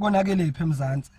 konakelephi emzansi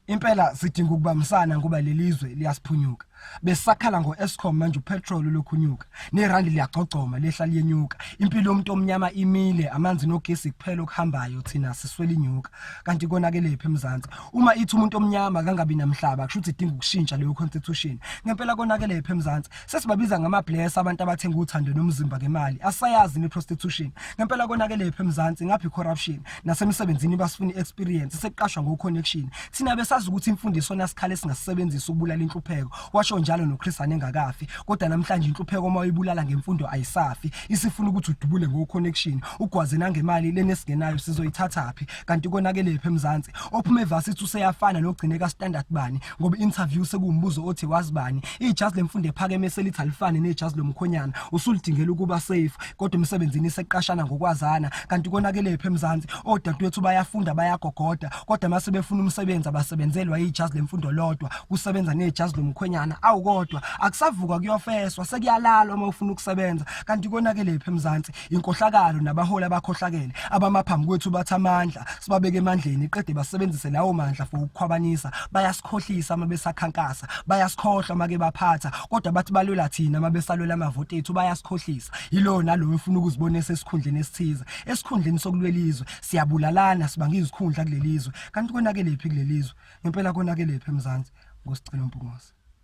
impela sidinga ukubambisana ngoba lelizwe liyasiphunyuka besakhala ngoEscom manje upetrol lokhunyuka nerand liyagcogcoma lehla liyenyuka impilo yomuntu omnyama imile amanzi nogesi kuphela okuhambayo thina siswele inyuka kanti konakelephi emzansi uma ithi umuntu omnyama kangabi namhlaba kusho ukuthi idinga ukushintsha leyo constitution ngempela konakelephi emzansi Sesibabiza ngama bless abantu abathenga uthando nomzimba ngemali. Asayazi ni prostitution. Ngempela konakele ephe eMzansi ngaphi corruption nasemsebenzini basifuna experience sekuqashwa ngo connection. Thina besazi ukuthi imfundiso nasikhala singasebenzisa ukubulala inhlupheko. Washo njalo no Chris anengakafi. Kodwa namhlanje inhlupheko uma uyibulala ngemfundo ayisafi. Isifuna ukuthi udubule ngo connection. Ugwaze nangemali lenesingenayo sizoyithathaphi. Kanti konakele ephe eMzansi. Ophume varsity useyafana nogcineka standard bani. ngoba interview sekuwumbuzo othi wazibani ijazi lemfundo ephakeme selithi alifane nejazi lomkhonyana usulidingela ukuba safe kodwa emsebenzini iseqashana ngokwazana kanti konakele phe emzansi odadewethu bayafunda bayagogoda kodwa mase befuna umsebenzi abasebenzelwa ijazi lemfundo lodwa kusebenza nejazi lomkhonyana awukodwa akusavukwa kuyofeswa sekuyalalwa uma ufuna ukusebenza kanti konakele phe emzansi inkohlakalo nabaholi abakhohlakele abamaphambi kwethu bathi amandla sibabeke emandleni qede basebenzise lawo mandla for ukukhwabanisa bayasikhohlisa uma besakhankasa bayasikhohlwa make baphatha kodwa bathi balwela thina uma besalwela amavoti ethu bayasikhohlisa yilo nalowo efuna ukuzibona esesikhundleni esithize esikhundleni sokulwela izwe siyabulalana sibanga izikhundla kulelizwe kanti konakelephi kulelizwe ngempela konakelephi emzansi ngosicelo mpungose